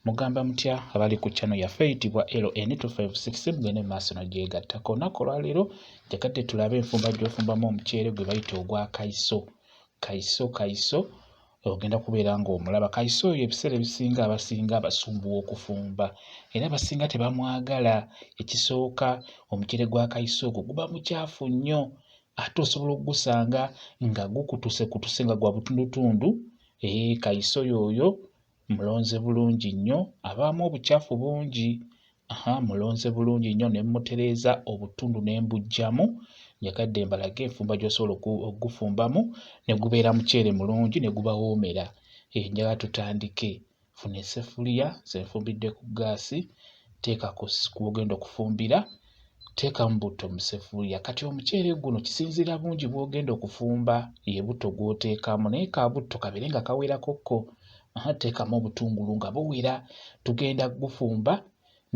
Mugamba mutya abali ku channel yaffe eyitibwa LN256 mugende maaso nogyegattako olunaku olwaleero njagadde tulabe enfumba gyofumbamu omuceere gwe bayita ogwa kaiso kaiso kaiso ogenda kubeera ng'omulaba kaiso oyo ebiseera ebisinga abasinga abasumbuwa okufumba era abasinga tebamwagala ekisooka omuceere gwa kaiso ogwo guba mukyafu nnyo ate osobola okugusanga nga gukutuse kutuse nga gwa butundutundu ee kaiso yooyo Mulonze bulungi nnyo abaamu obucaafu bungi. Aha mulonze bulungi nnyo ne mmutereeza obutundu ne mbuggyamu. Njagadde mbalage enfumba gy'osobola okugufumbamu ne gubeera muceere mulungi ne gubawoomera. Eh, njagala tutandike. Funa esseffuliya, nze nfumbidde ku ggaasi, teeka ku w'ogenda okufumbira Teekamu butto mu ssefuliya. Kati omuceere guno kisinziira bungi bw'ogenda okufumba ye butto gw'oteekamu naye ka butto kabeere nga kawerakokko. Teekamu obutungulu nga buwera. Tugenda kugufumba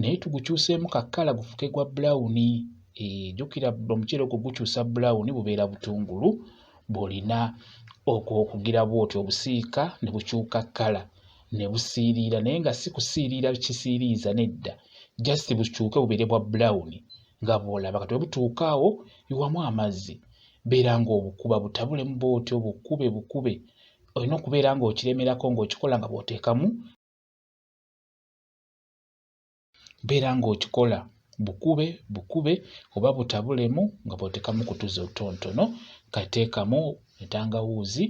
naye tugukyuseemu ka kkala gufuke gwa bbulawuni. Eh, jjukira omuceere ogwo gukyusa bbulawuni bubeera butungulu bw'olina okugira bw'otyo obusiika ne bukyuka kkala. ne busiiriira naye nga si kusiiriira kisiiriiza nedda just bukyuke bubeere bwa brown nga bw'olaba kati bwe butuuka awo iwamu amazzi beera ng'obukuba butabulemu bw'otyo bukube bukube olina okubeera ng'okiremerako ng'okikola nga bw'oteekamu beera ng'okikola bukube bukube oba butabulemu nga bw'oteekamu ku tuzi otutonotono kateekamu entangawuuzi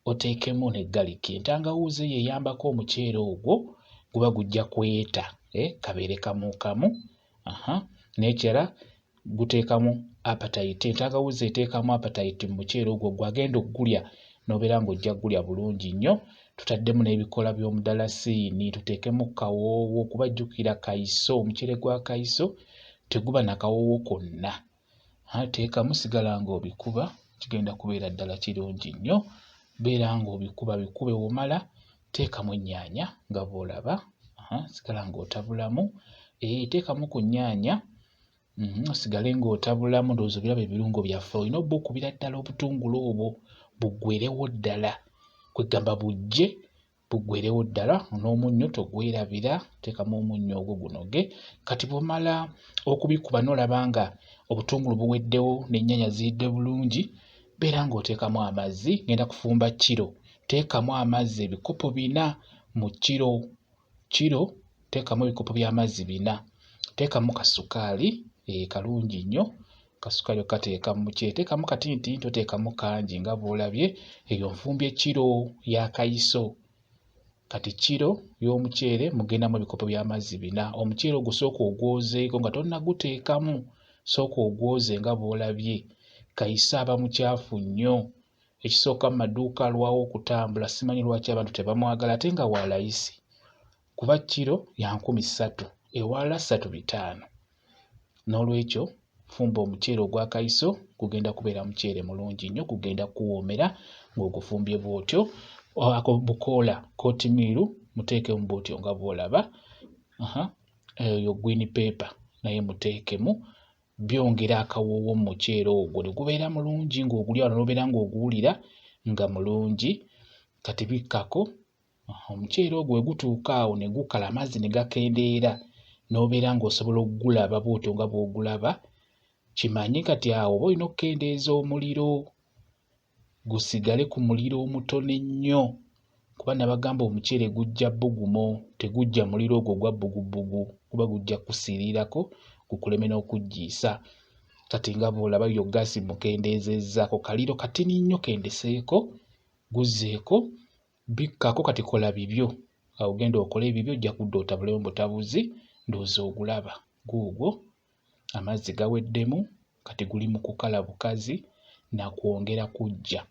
oteekemu ne galiki entangawuuzi eyo eyambako omuceere ogwo guba gujja kweta eh, kabeere kamuukamu n'ekirala guteekamu apatayiti entangawuzi eteekamu apatayiti mu muceere ogwo gwagenda okugulya n'obeera ng'ojja kugulya bulungi nnyo tutaddemu n'ebikola by'omudalasiini tuteekemu kawoowo kuba jjukira kayiso omuceere gwa kayiso teguba na kawoowo konna teekamu sigala ng'obikuba kigenda kubeera ddala kirungi nnyo beera ng'obikuba bikube womala teekamu ennyaanya nga bw'olaba sigala ng'otabulamu eh, teekamu ku nnyaanya Mhm, osigale ng'otabulamu ndowooza biraba ebirungo byaffe olina oba okubira ddala obutungulu obwo buggwerewo ddala kwegamba bujje buggwerewo ddala n'omunnyo togwerabira teekamu omunnyo ogwo gunoge kati bwomala okubikuba n'olaba nga obutungulu buweddewo n'ennyanya ziyidde bulungi beera ng'oteekamu amazzi ngenda kufumba kiro teekamu amazzi ebikopo bina mu kiro kiro teekamu ebikopo by'amazzi bina, teekamu kasukaali eh, kalungi nnyo kasukaali okateeka mu kye teekamu katinitini toteekamu kangi nga bw'olabye eyo nfumbye kiro ya kayiso kati kiro y'omuceere mugendamu ebikopo by'amazzi bina omuceere ogwo sooka ogwozeeko nga tonnaguteekamu sooka ogwoze nga bw'olabye kayiso aba mucaafu nnyo ekisooka mu maduuka alwawo okutambula simanyi lwaki abantu tebamwagala ate nga wa layisi kuba kiro ya nkumi ssatu ewaala ssatu bitaano n'olwekyo fumba omuceere ogwa kayiso gugenda kubeera muceere mulungi nnyo gugenda kuwoomera ng'ogufumbye bw'otyo ako bukoola kotimiiru muteekemu bw'otyo nga bw'olaba eyo gwini peepa naye muteekemu byongera akawoowo mu muceere ogwo ne gubeera mulungi ng'ogulya wano n'obeera ng'oguwulira nga mulungi kati bikkako omuceere ogwo we gutuuka awo ne gukala amazzi ne gakendeera n'obeera ng'osobola okugulaba bw'otyo nga bw'ogulaba kimanye kati awo oba olina okukendeeza omuliro gusigale ku muliro omutono ennyo kuba nabagamba omuceere gujja bugumo tegujja muliro ogwo gwa bugubbugu kuba gujja kusiriirako gukuleme n'okuggiisa kati nga bw'olaba yo gaasi mukendeezezzaako kaliro katini nnyo kendeseeko guzzeeko bikkako kati kola bibyo awo genda okole ebibyo ojja kudda otabulemu butabuzi ndowooza ogulaba guugwo amazzi gaweddemu kati guli mu kukala bukazi na kwongera kuggya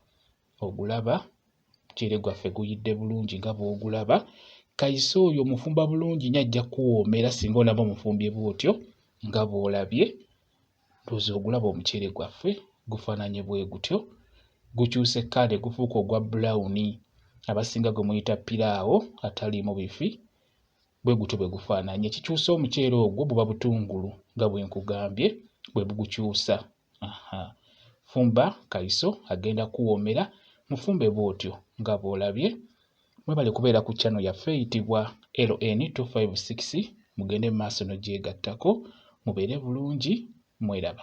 ogulaba omuceere gwaffe guyidde bulungi nga bw'ogulaba kayise oyo omufumba bulungi nyo ajja kuwoomera singa olaba omufumbye bw'otyo nga bw'olabye ndowooza ogulaba omuceere gwaffe gufaananye bwe gutyo gukyuse kkala ne gufuuka ogwa bbulawuni abasinga gwe muyita piraawo ataliimu bifi bwe gutyo bwe gufaananye kikyusa omuceere ogwo buba butungulu nga bwe nkugambye bwe bugukyusa fumba kayiso agenda kuwoomera mufumbe bw'otyo nga bw'olabye mwebale kubeera ku channel yaffe eyitibwa ln 256 mugende mu maaso n'ogyegattako mubeere bulungi mweraba